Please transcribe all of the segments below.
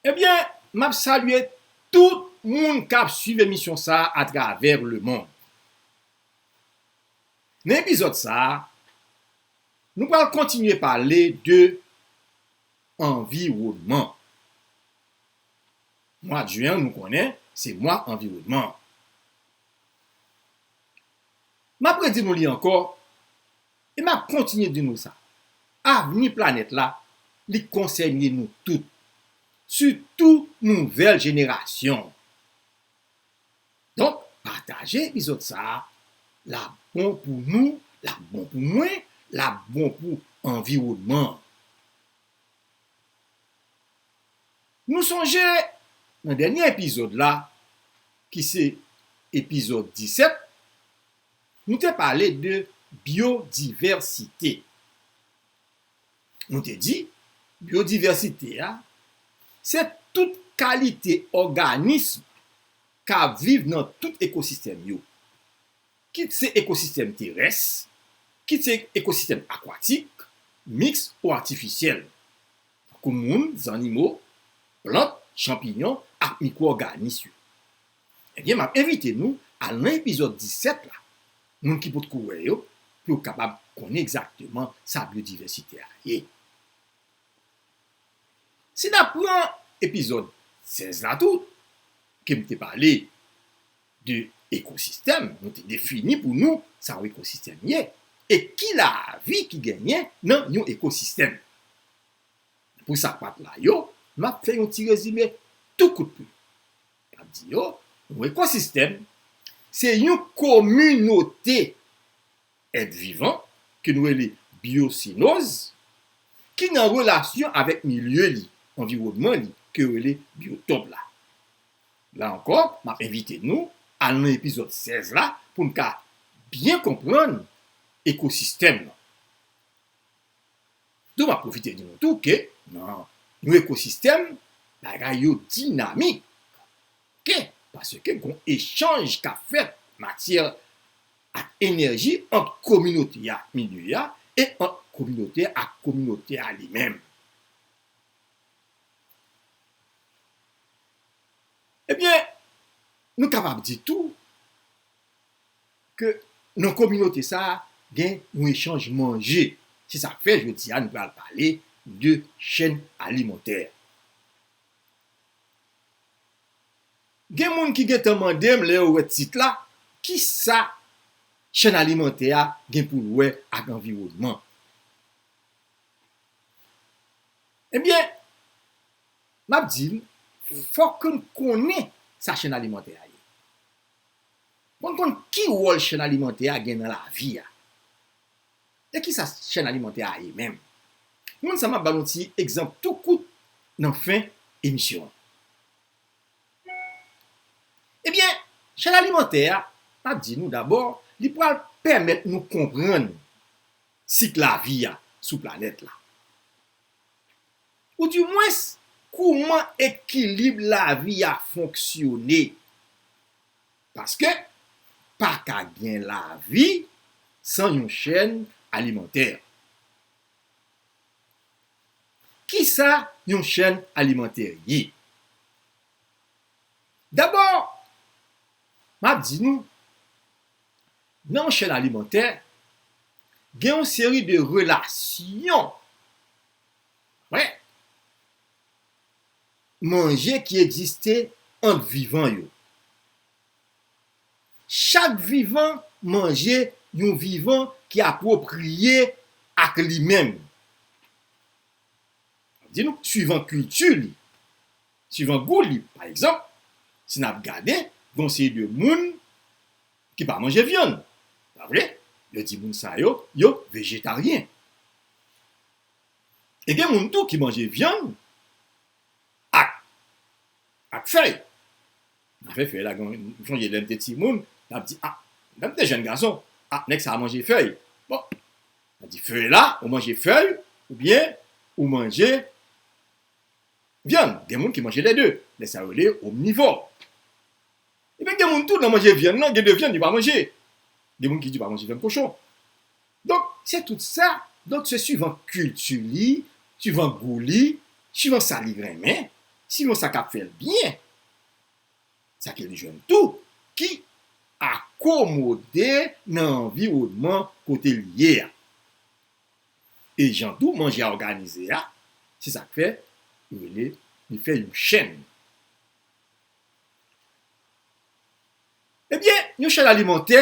Ebyen map salye tout moun kap swiv emisyon sa a travè le mond. Nan epizòd sa a, nou pral kontinye pale de anviwònman. Mwad Jen an nou konnen se mwa anviwònman an. Map redi nou li ankò, E map kontinye di nou sa, avni planèt la, li konsène nou tout, sitou nouvèl jenerasyon an. Donk pataje epizòd sa, lap bon pou nou, lap bon pou mwen, lap bon pou anviwònman an. Nou sonje nan dènye epizòd la ki se epizòd 17. Nou te pale de byodivèsite. Nou te di, byodivèsite a, se tout kalite òganism k ap viv nan tout ekosistèm yo. Kit se ekosistèm terès, kit se ekosistèm akwatik, miks ou atifisyèl. Tankou moun, zannimo, plant, chanpiyon ak mikwo òganis yo. Ebyen map envite nou al nan epizòd 17 la, moun ki potko wè yo, pou yo kapab konnen egzakteman sa byodivèsite a ye. Si nap pran epizòd 16 la tou, ke m te pale de ekosistèm, nou te defini pou nou sa yon ekosistèm ye, e ki lavi ki genyen nan yon ekosistèm. Pou sa k pat la yo, map fè yon ti rezime tou kout pou nou. N ap di yo, yon ekosistèm se yon kominote èt vivan ke nou rele byosenòz ki nan relasyon avèk milye li, anviwònman li, ke yo rele byotòp la. La ankò, m ap envite nou al nan epizòd 16 la pou n ka byen konprann ekosistèm lan. Tou m ap pwofite di nou tou ke nan yon ekosistèm bagay yo dinamik ke paske gon echanj k ap fèt matyè ak enèji ant kominote a ak milye a e ant kominote a ak kominote a li menm. Ebyen nou kapab di tou ke nan kominote sa a gen yon echanj manje. Se sa k fè jodi a nou pral pale de chèn alimantè. Gen moun ki gen tan mande m lè yo wè tit la, ki sa chèn alimantè a gen pou l wè ak anviwònman? Ebyen, m ap di l, fòk ke n konnen sa chèn alimantè a ye. Mwen konn ki wòl chèn alimantè a gen nan lavi a. E kisa chèn alimantè a ye menm? Moun sa map ba nou ti egzanp tou kout nan fen emisyon an. Ebyen chèn alimantè a map di nou dabò li pral pèmèt nou konprann sik lavi a sou planèt la. Ou di mwens, kouman ekilib lavi a fonksyone. Paske, pa ka gen lavi san yon chèn alimantè. Kisa yon chèn alimantè ye? Dabò, m ap di nou, nan yon chèn alimantè, gen yon seri de relasyon. Prèt. Manje ki egziste ant vivan yo. Chak vivan manje yon vivan ki apwopriye ak li menm. Sa di nou swivan kilti li, swivan gou li. Pa egzanp, si n ap gade, gen yon seri de moun ki pa manje vyann. Pa vre? Yo di moun sa yo, yo vejetaryen. E gen moun tou ki manje vyann ak ak fèy. Afè fèy la gen, m sonje lè m te timoun, n ap di a, lè m te jèn gason, a nèg sa a manje fèy. Bon, m ap di fèy la, ou manje fèy oubyen ou manje vyann. Gen moun ki manje lè de, nèg sa yo rele omnivò. Ebyen gen moun tou nan manje vyann lan, gen de vyann yo pa manje. Gen moun ki di yo pa manje vyann kochon. Donk, se tout sa, donk se suivan kilti li, suivan gou li, suivan sa li renmen, suivan sa k ap fè l byen, sa ke li jwenn tou, ki akomode nan anviwònman kote li ye a. E jan tou manje a òganize a, se sa k fè yo rele li fè yon chèn. Ebyen, yon chèn alimantè,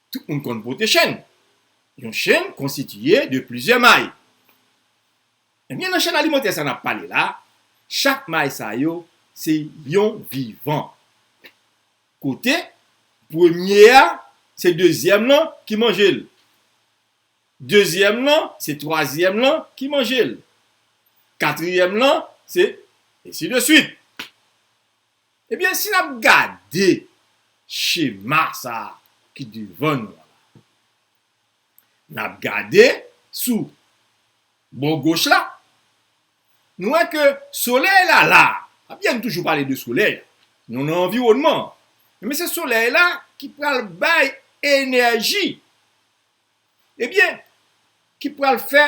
Tout moun konn pote chèn. Yon chèn konstitiye de plizyè may. Ebyen nan chèn alimantè sa nap pale la, chak may sa yo se yon vivan. Kote premye a se dezyèm lan ki manje l. Dezyèm lan se twazyèm lan ki manje l. Katriyèm lan se ensi de swit. Ebyen si nap gade chema sa ki devan nou an la. Nap gade sou bò goch la. Nou wè ke solèy la la. Abyen nou toujou pale de solèy la. Nou nan anviwònman an. Ebyen se solèy la ki pral bay enèji. Ebyen ki pral fè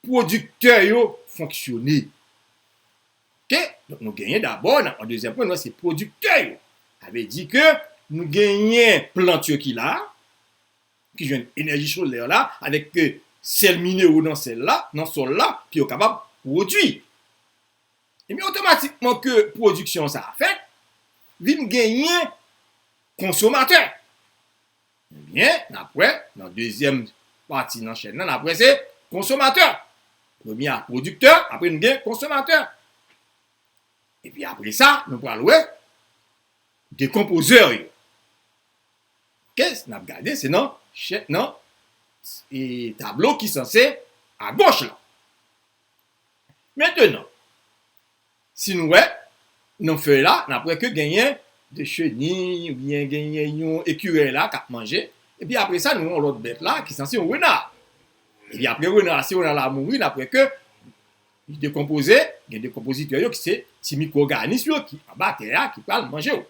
pwodiktè yo fonksyone. Ok donk nou genyen dabò nan an dezyèm pwen nou wè se pwodiktè yo sa vle di ke nou genyen plant yo ki la ki jwenn enèji solè la avèk ke sèl minero nan sèl la nan sòl la ke yo kapab pwodui ebyen otomatikman ke pwodiksyon sa a fèt vin genyen konsomatè. Ebyen, n ap wè nan dezyèm pati nan chèn nan, n ap wè se konsomatè. Premye a pwodiktè, apre nou gen konsomatè. Epi apre sa, nou pral wè dekonpozè yo. Ok, n ap gade se nan chè, nan tablo ki sanse agoch la. Mentenan. Si nou wè nan fèy la, n ap wè ke genyen de cheniy oubyen genyen yon ekirèy la k ap manje. Epi apre sa nou wè yon lòt bèt la ki sanse yon rena. Epi apre rena a, si rena la mouri, n ap wè ke li dekonpoze, gen dekonpozitè yo ki se ti mikwoganis yo ki anba tè a ki pral manje yo.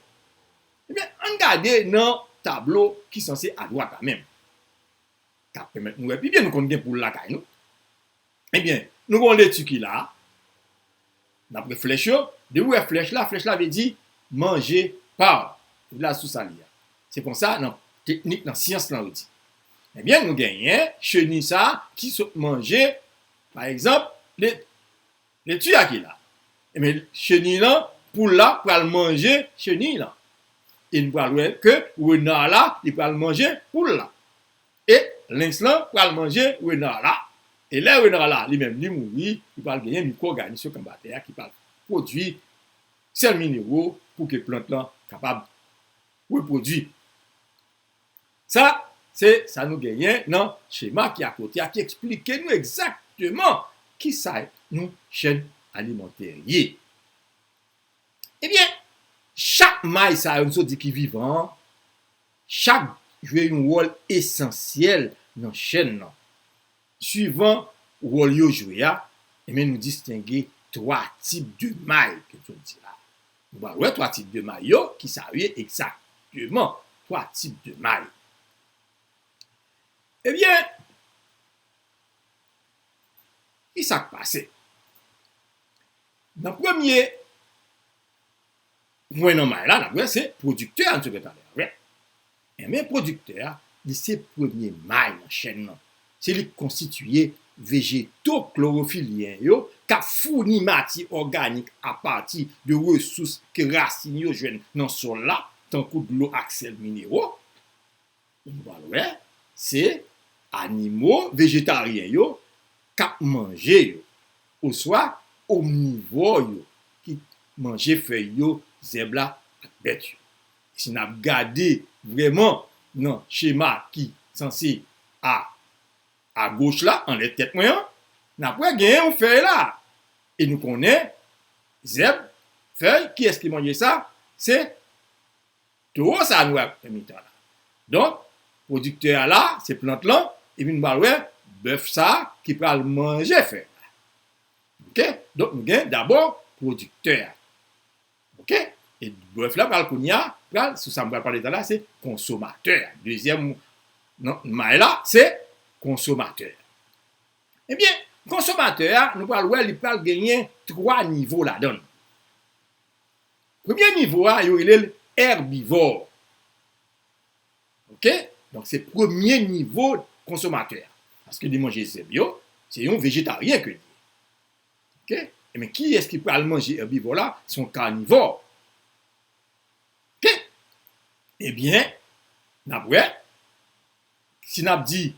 Ebyen, ann gade nan tablo ki sanse adwat la menm. Sa ap pèmèt nou wè pi byen nou konn gen poul lakay nou. Ebyen, nou gen yon leti ki la, n ap wè flèch yo, depi ou wè flèch la, flèch la vle di manje pa w, ou la sous a li a. Se konsa nan teknik nan syans lan yo di. Ebyen nou genyen cheni sa ki sot manje pa egzanp leti a ki la. Ebyen cheni lan, poul la pral manje cheni lan. E nou pral wè ke rena la li pral manje poul la. E lynx lan pral manje renard la, e lè renard la li menm li mouri, li pral genyen mikwo-òganisyon anba tè a ki pral pwodwi sèl minewo pou ke plant lan kapab repwodwi. Sa, se sa nou genyen nan chema ki akote a ki eksplike nou egzakteman ki sa yon chèn alimantè ye. Ebyen, chak may sa yo m sot di ki vivan an, Chak jwe yon wòl esansyèl nan chèn lan. Suivan wòl yo jwe a, enben nou distenge 3 tip de may ke nou sot di la. Nou pral wè 3 tip de may yo ki sa yo ye egzakteman, 3 tip de may. Ebyen, ki sa k pase? Nan premye Pwen nòmal la, n ap wè, se pwodiktè a n sot fè talè a, rep. Enben, pwodiktè a, li se premye may nan chèn nan. Se li k konstitiye vejeto klorofilyen yo k ap founi matyè òganik apati de resous ke rasin yo jwenn nan sòl la, tankou dlo ak sèl minero. Nou pral wè se animo vejetaryen yo k ap manje yo oswa omnivò yo ki manje fèy yo, zèb la ak bèt yo. E si n ap gade vrèman nan chema ki sanse a agoch la, anlè tèt mwen an, n ap wè gen yon fèy la. E nou konnen zèb, fèy, kiyès ki manje sa? Se Towo sa nou wè nan mitan la. Donk, pwodiktè a la, se plant lan, epi nou pral wè bèf sa ki pral manje fèy la. Ok, donk nou gen dabò pwodiktè a. Ok, e bèf la pral kounye a, pral sou sa m pral pale ta la, se konsomatè a. Dezyèm nan may la, se konsomatè a. Ebyen, konsomatè a, nou pral wè li pral genyen twa nivo ladan l. Premye nivo a yo rele l èbivò ok donk se premye nivo konsomatè a paske li manje zèb yo se yon vejetaryen ke li ye ok ebyen kiyès ki pral manje èbivò la se yon kanivò ok ebyen nap wè si nap di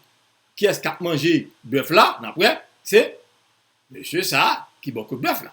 kiyès kap manje bèf la nap wè se mesye sa ki bò kot bèf la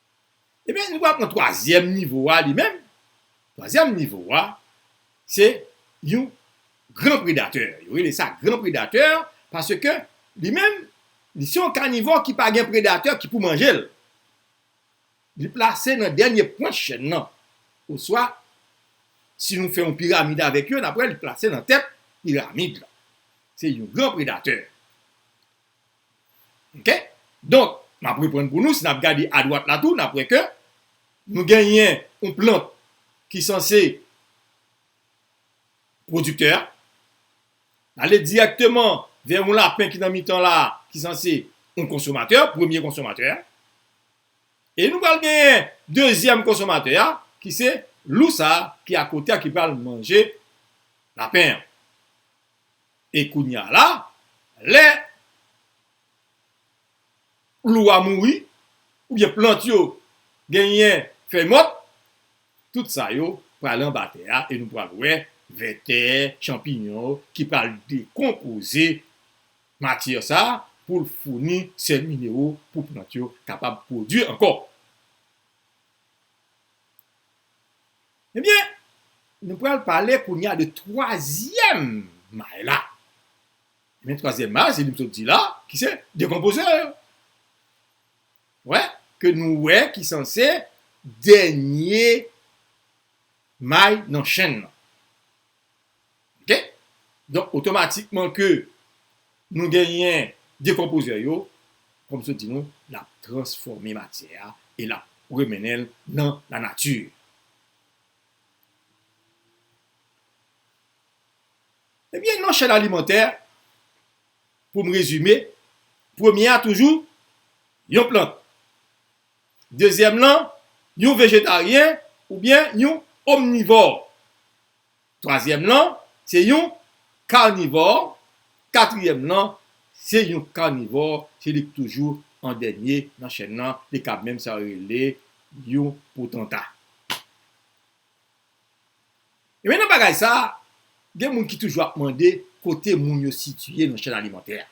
Ebyen nou pral pran twazyèm nivo a li menm, twazyèm nivo a se yon gran predatè, yo rele sa gran predatè paske li menm li se yon kanivò ki pa gen predatè ki pou manje l, li plase nan dènye pwent chèn nan oswa si nou fè yon piramid avèk yo n ap wè li plase nan tèt piramid la, se yon gran predatè. Ok donk map reprann pou nou si nap gade adwat la tou nap wè ke nou genyen yon plant ki sanse pwodiktè a ale dirèkteman vè yon lapen ki nan mitan la ki sanse yon konsomatè premye konsomatè a e nou pral genyen dezyèm konsomatè a ki se lou sa ki akote a ki pral manje lapen an. E kounya la, lè klou a mouri oubyen plant yo genyen fèy mòt, tout sa yo pral anba tè a e nou pral wè vètè, chanpiyon ki pral dekonpoze matyè sa pou l founi sèl minero pou plant yo kapab pwodui ankò. Ebyen, nou pral pale kounye a de twazyèm may la. Ebyen, twazyèm may la se li m sot di la, ki se dekonpozè yo. Wè, ke nou wè ki sanse dènye may nan chenn nan. Ok donk otomatikman ke nou genyen dekonpozè yo kòm m sot di nou lap transfòme matyè a e lap remennen l nan la nati. Ebyen nan chèn alimantè pou m rezime premye a toujou yon plant dezyèm lan yon vejetaryen oubyen yon omnivò. Twazyèm lan se yon karnivò, katriyèm lan se yon karnivò, se li ki toujou an dènye nan chèn lan, li kab menm sa yo rele yon potanta. Ebyen nan bagay sa, gen moun ki toujou ap mande kote moun yo sitiye nan chèn alimantè a.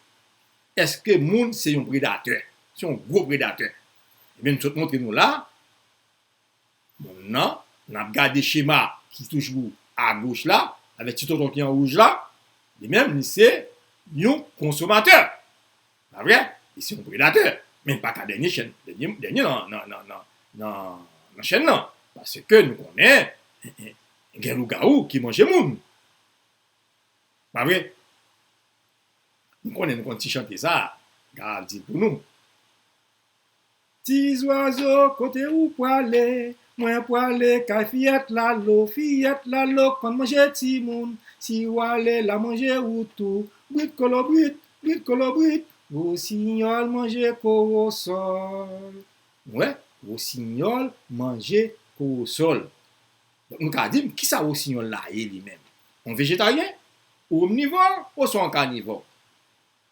Eske moun se yon predatè, se yon gwo predatè? Ebyen m sot montre nou la. Bon nan, n ap gade chema ki toujou agoch la, avèk ti tonton ki an wouj la, li menm li se yon konsomatè, pa vre? Li se yon predatè, men li pa ka dènye chen, dènye nan chèn nan, paske nou konnen gen lougawou ki manje moun, pa vre? Nou konnen, nou konn ti chante sa a, m ta di l pou nou. Ti zwazo kote ou pwale? Mwen pwale kay fiyèt lalo Fiyèt lalo konn manje timoun Si wale la manje ou tou Bwit kolobwit, bwit kolobwit Wosinyòl manje kowosòl Wè wosinyòl manje kowosòl Donk nou ka di m kisa wosinyòl la ye li menm? On vejetaryen? Ou omnivò oswa on kanivò?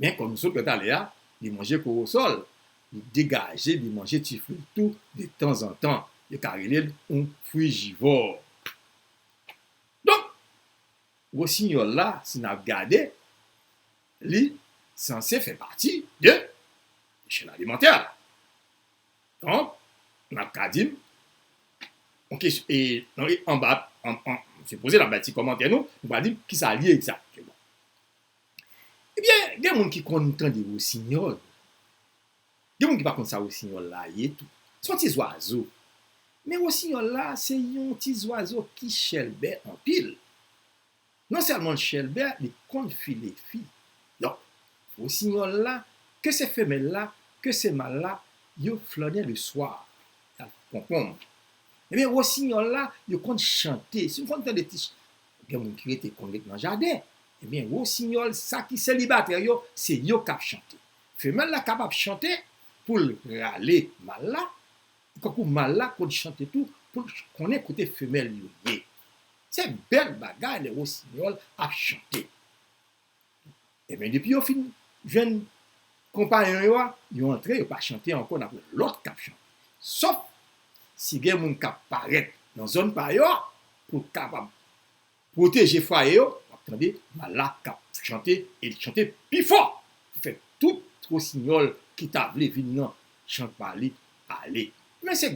Men kòm nou sot wè talè a, li manje kowosòl, li degaje li manje ti fwi l tou de tanzantan. Yo ka rele l yon frijivò. Donk, wosinyòl la, si n ap gade, li sanse fè pati de chèn alimantè a. Donk, n ap ka di, anba, se poze n ap bay ti kòmantè nou, nou va di ki sa l ye egzakteman. Ebyen gen moun ki konn tande wosinyòl. Gen moun ki pa konn sa wosinyòl la ye tou. Se yon ti zwazo. Men wosinyòl la se yon ti zwazo ki chèlbè anpil. Non sèlman l chèlbè, li konn file fi. Donk, wosinyòl la, ke se femèl la, ke se mal la, yo flannen le swa. Y al konkonm. Ebyen wosinyòl la, yo konn chante. Si nou konn tande ti. Gen moun ki rete konn ret nan jaden. Ebyen Rosinyòl sa ki selibatè yo se yo k ap chante. Femèl la kapab chante pou l rale mal la, tankou mal la konn chante tou pou l konnen kote femèl yo ye. Se bèl bagay lè Rosinyòl ap chante. Ebyen depi yo fin jwenn konpayon yo a, yo antre yo pa chante ankò nan pran lòt kap chante. Sòf si gen moun kap parèt nan zòn pa yo a pou l kapab pwoteje fwaye yo, wap tande mal la kap chante e li chante pi fò pou fè tout wosinyòl ki ta vle vin nan chant pa li ale. Men se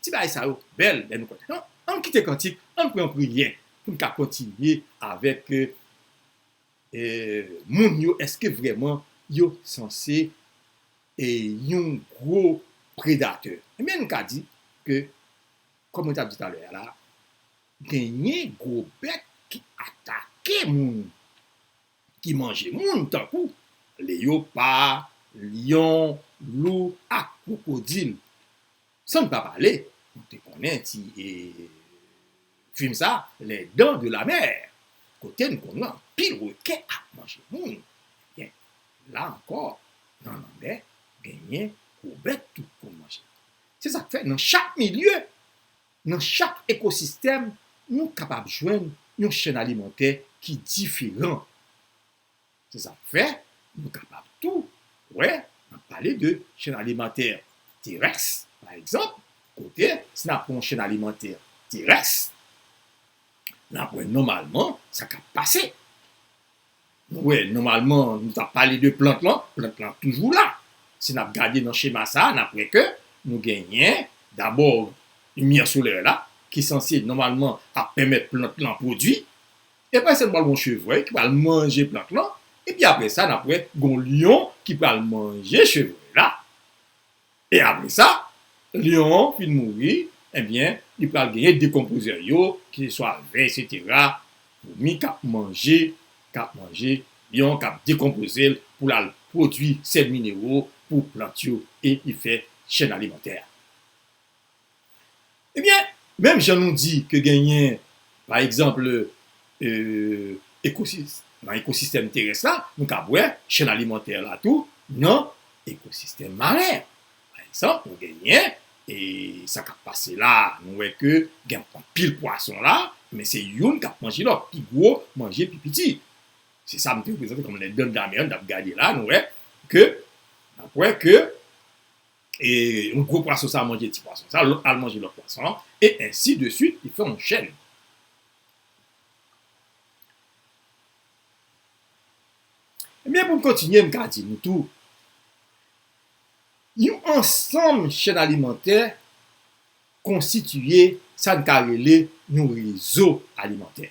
ti bagay sa yo bèl lè nou kontan. Ann kite kantik, ann pran priyè pou n ka kontinye avèk moun yo eske vreman yo sanse yon gwo predatè ebyen nou ka di ke kòm mwen tap di talè a la genyen gwo bèt ki atake moun ki manje moun tankou leyopa, lyon, lou ak kwokodil. San m pa pale, nou te konnen ti fim sa Les dents de la mer kote n konn wè anpil rekè ap manje moun. Ebyen, la ankò nan lanmè genyen gwo bèt tou pou n manje. Se sa k fè nan chak milye, nan chak ekosistèm nou kapab jwenn yon chèn alimantè ki diferan. Se sa k fè, nou kapab tou wè n ap pale de chèn alimantè terès, pa egzanp, kote si n ap pran yon chèn alimantè terès, n ap wè nòmalman sa k ap pase. Nou wè nòmalman nou t ap pale de plant lan, plant lan ap toujou la. Si n ap gade nan chema sa a, n ap wè ke nou genyen dabò limyè solè la ki sanse nòmalman ap pèmèt plant lan pwodui. Epa sèlman gon chevrèy ki pral manje plant lan epi apre sa nap wè gon lyon ki pral manje chevrèy la e apre sa lyon an fin mouri ebyen li pral genyen dekonpozè yo ki se swa vè esetera foumi kap manje kap manje lyon an kap dekonpozel poul al pwodwi sèl minero pou plant yo e li fè chèn alimantè a. Ebyen, menm jan nou di ke genyen, pa egzanp, nan ekosistèm terès la, nou kab wè chèn alimantè la tou nan ekosistèm maren. Pa egzanp, nou genyen, e sa kab pase la, nou wè ke gen anpil pwason la, men se youn kap manje lòt, pi gwo manje pi piti. Se sa m te reprezante kòm les dents de la mer n ap gade la, nou wè ke, n ap wè ke. E yon gwo pwason sa manje ti pwason sa, lòt al manje lòt pwason an, e ensi de swit, li fè yon chèn. Ebyen pou m kontinye m ka di nou tou, yon ansanm chèn alimantè konsitiye sa n ka rele yon rezo alimantè.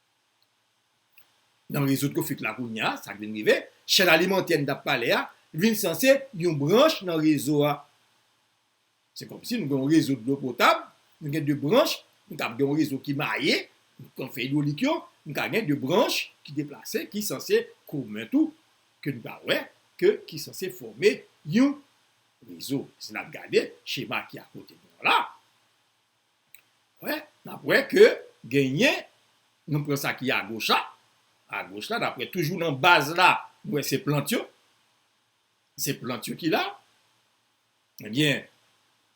Nan rezoud kofit la kounye a, sa k vin rive, chèn alimantè n t ap pale a vin sanse yon branch nan rezo a. Se kòmsi nou gen yon rezo dlo potab, nou gen 2 branch, nou kab gen yon rezo ki maye, kon fè idwolik yo, nou ka gen 2 branch ki deplase ki sanse komen tou, ke nou ka wè ke ki sanse fòme yon rezo. Si n ap gade chema ki akote nou an la, Wè, n ap wè ke genyen, nou pran sa ki agoch la, agoch la, n ap wè toujou nan baz la, nou wè se plant yo, se plant yo ki la, ebyen,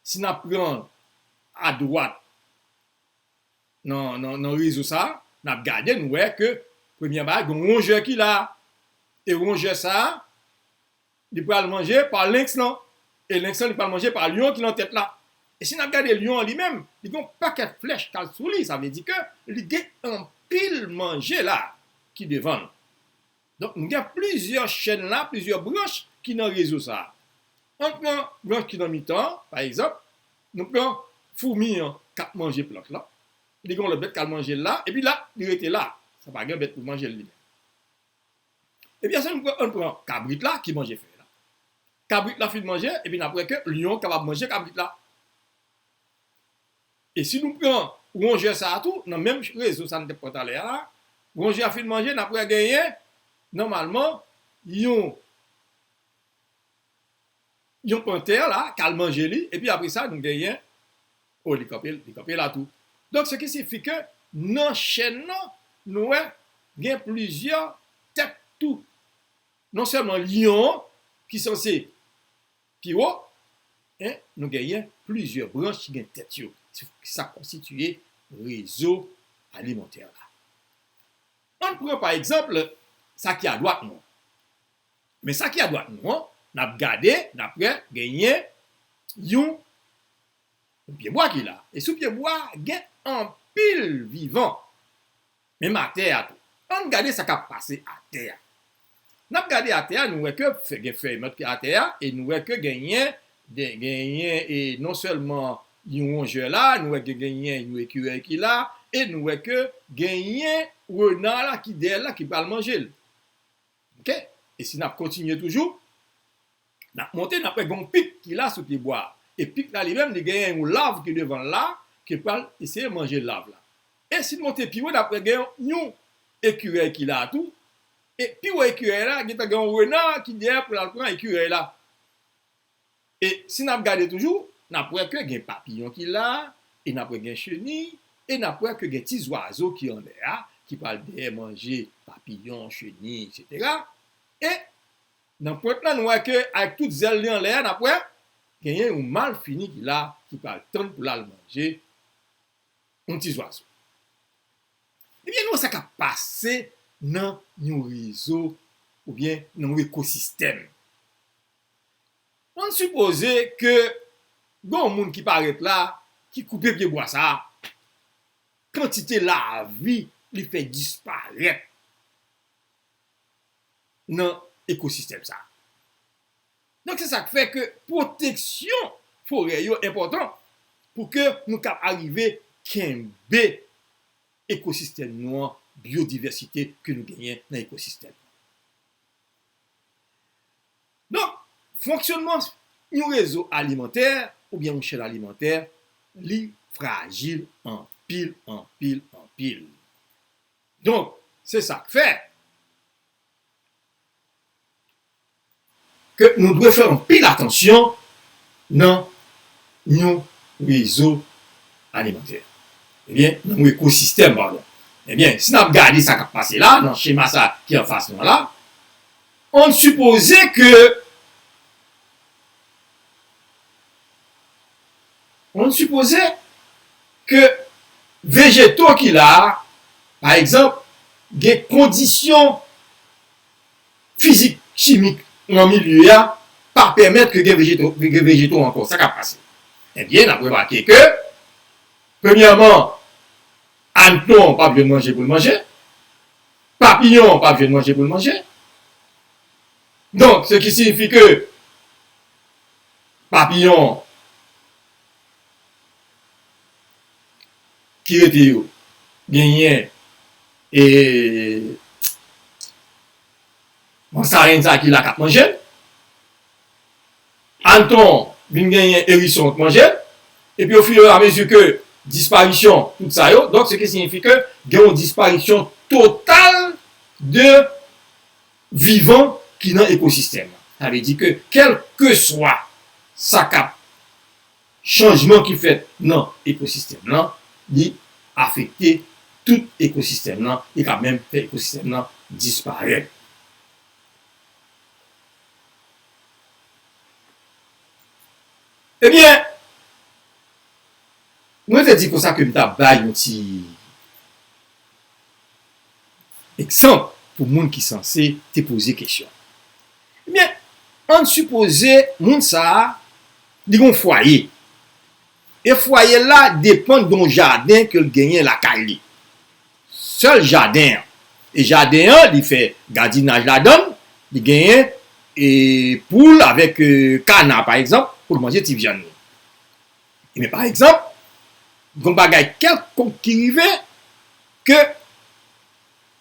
si n ap pran adwat nan rezo sa, n ap gade nou wè ke premyè bagay, gen yon rongè ki la, e rongè sa, Li pral manje pa lenks lan, e lenks lan li pral manje pa lyon ki nan tèt la. E si n ap gade lyon an li menm, li gen yon pakèt flèch k al sou li, sa vle di ke li gen anpil manje la a ki devan l. Donk nou gen plizyè chèn la, plizyè branch ki nan rezo sa a. An n pran branch ki nan mitan an, pa egzanp, nou pran foumi an k ap manje plant lan, li gen yon lòt bèt k al manje l la, epi la, li rete la, sa pa gen bèt pou manje l li menm. Epi ase nou pran, ann pran kabrit la ki manje fèy la. Kabrit la fin manje epi n ap wè ke lyon an kapab manje kabrit la. E si nou pran wonjè sa a tou, nan menm rezo sa a nou te pran talè a, wonjè a fin manje, n ap wè genyen nòmalman yon. Yon pantè la k al manje li epi apre sa nou genyen oh li kanpe li kanpe la tou donk se ki sifi ke nan chèn nan nou wè gen plizyè tèt tou non sèlman lyon an ki sanse pi wo en nou genyen plizyè branch ki gen tèt yo ki sa k konstitiye rezo alimantè la ann pran pa egzanp sa ki adwat nou an Men sa ki adwat nou an, n ap gade, n ap wè genyen yon pyebwa ki la. E sou pyebwa a gen anpil vivan, menm atè a tou. Ann gade sa k ap pase atè a. N ap gade atè a, nou wè ke gen fèy mòt ki atè a e nou wè ke genyen, genyen e non sèlman yon wonjè la, nou wè ke genyen yon ekirèy ki la e nou wè ke genyen rena la ki dèyè l la ki pral manje l. Ok e si nap kontinye toujou nap monte nap wè gen yon pik ki la sou pye bwa e pik la li menm li genyen yon lav ki devanl la ki pral eseye manje lav la e sin monte pi wo nap wè gen yon ekirèy ki la tou e pi wo ekirèy la gentan gen yon rena ki dèyè poul al pran ekirèy la. E si n ap gade toujou, n ap wè ke gen papiyon ki la, e n ap wè gen cheniy, e n ap wè ke gen ti zwazo ki anlè a, ki pral dèyè manje papiyon, cheniy, eksetera. E nan pwent lan, nou wè ke avèk tout zèl li anlè a, n ap wè genyen yon malfini ki la, ki pral tann pou l al manje yon ti zwazo. Ebyen, nou wè sa k ap pase nan yon rezo, oubyen nan yon ekosistèm. An n sipoze ke gen yon moun ki parèt la, ki koupe pyebwa sa a, kantite lavi li fè disparèt nan ekosistèm sa a. Donk se sa k fè ke pwoteksyon forè yo enpòtan pou ke nou ka arive kenbe ekosistèm nou an, byodivèsite ke nou genyen nan ekosistèm. Donk, fonksyonnman yon rezo alimantè oubyen yon chèn alimantè li frajil anpil, anpil, anpil. Donk, se sa k fè ke nou dwe fè anpil atansyon nan. yon rezo alimantè. Ebyen, nan yon ekosistèm, padon. Ebyen, si n ap gade sa k ap pase la, nan chema sa ki anfas nou an la, ann sipoze ke, ann sipoze ke vejeto ki la a, pa egzanp, gen kondisyon fizik chimik nan milye a pa pèmèt ke gen vejeto ankò, sa k ap pase? Ebyen, n ap remake ke, premyèman, anneton an pa p jwenn manje pou l manje, papiyon an pa p jwenn manje pou l manje, donk, se ki siyifi ke papiyon an. ki rete yo genyen e mansarenn sa ki la kap manjel anton vin genyen erison k manjel epi o fur e a mezi ke disparisyon tout sa yo donk se ki siyifi ke gen yon disparisyon total de vivan ki nan ekosistèm sa vle di ke kelkeswa sa kap Chanjman ki fèt nan ekosistèm lan, li afekte tout ekosistèm lan, li ka menm fè ekosistèm lan disparèt. Ebyen, mwen te di konsa ke m ta bay yon ti egzanp pou moun ki sanse te poze kesyon an. Ebyen, ann sipoze moun sa a, li gen yon fwaye, e fwaye l la depann de yon jaden ke l genyen lakay li. Sèl jaden an, e jaden an li fè gadinaj ladan l, li genyen poul avèk kana pa egzanp pou l manje ti vyann li. Ebyen pa egzanp, gon bagay kèlkonk ki rive ke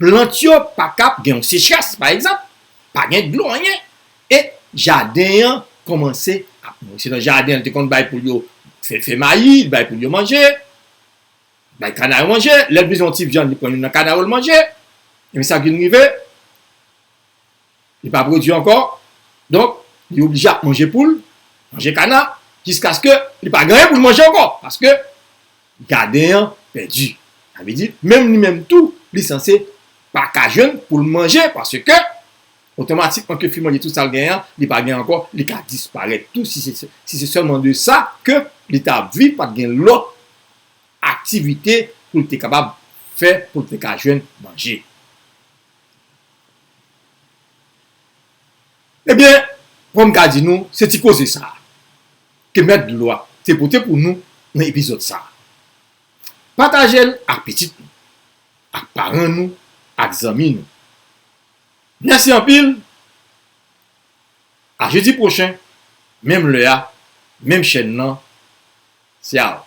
plant yo pa kab gen yon sechrès pa egzanp, pa gen dlo anyen e jaden an kòmanse ap mouri. Se nan jaden li te konn bay poul yo fè mayi, li bay poul yo manje, li bay kana yo manje, lè li bezwen yon ti vyann li pran youn nan kana yo li manje, ebyen sa k vin rive? Li pa pwodui ankò, donk li oblije ap manje poul, manje kana, jiskaske li pa gen anyen pou l manje ankò, paske gaden an pèdi. Sa vle di, menm li menm tou, li sanse pa ka jwenn pou l manje, paske otomatikman ke fi manje tout sa l genyen an, li pa gen ankò, li ka disparèt tou, si se sèlman de sa ke li ta ap viv, pa t gen lòt aktivite pou l te kapab fè, pou l te ka jwenn manje. Ebyen, fò m ka di nou, se ti koze sa a ke Mèt Dlo a te pote pou nou nan epizòd sa a. Pataje l ak pitit nou, ak paran nou, ak zanmi nou. Mèsi anpil! A jedi pwochen, menm lè a, menm chèn nan. Ciao!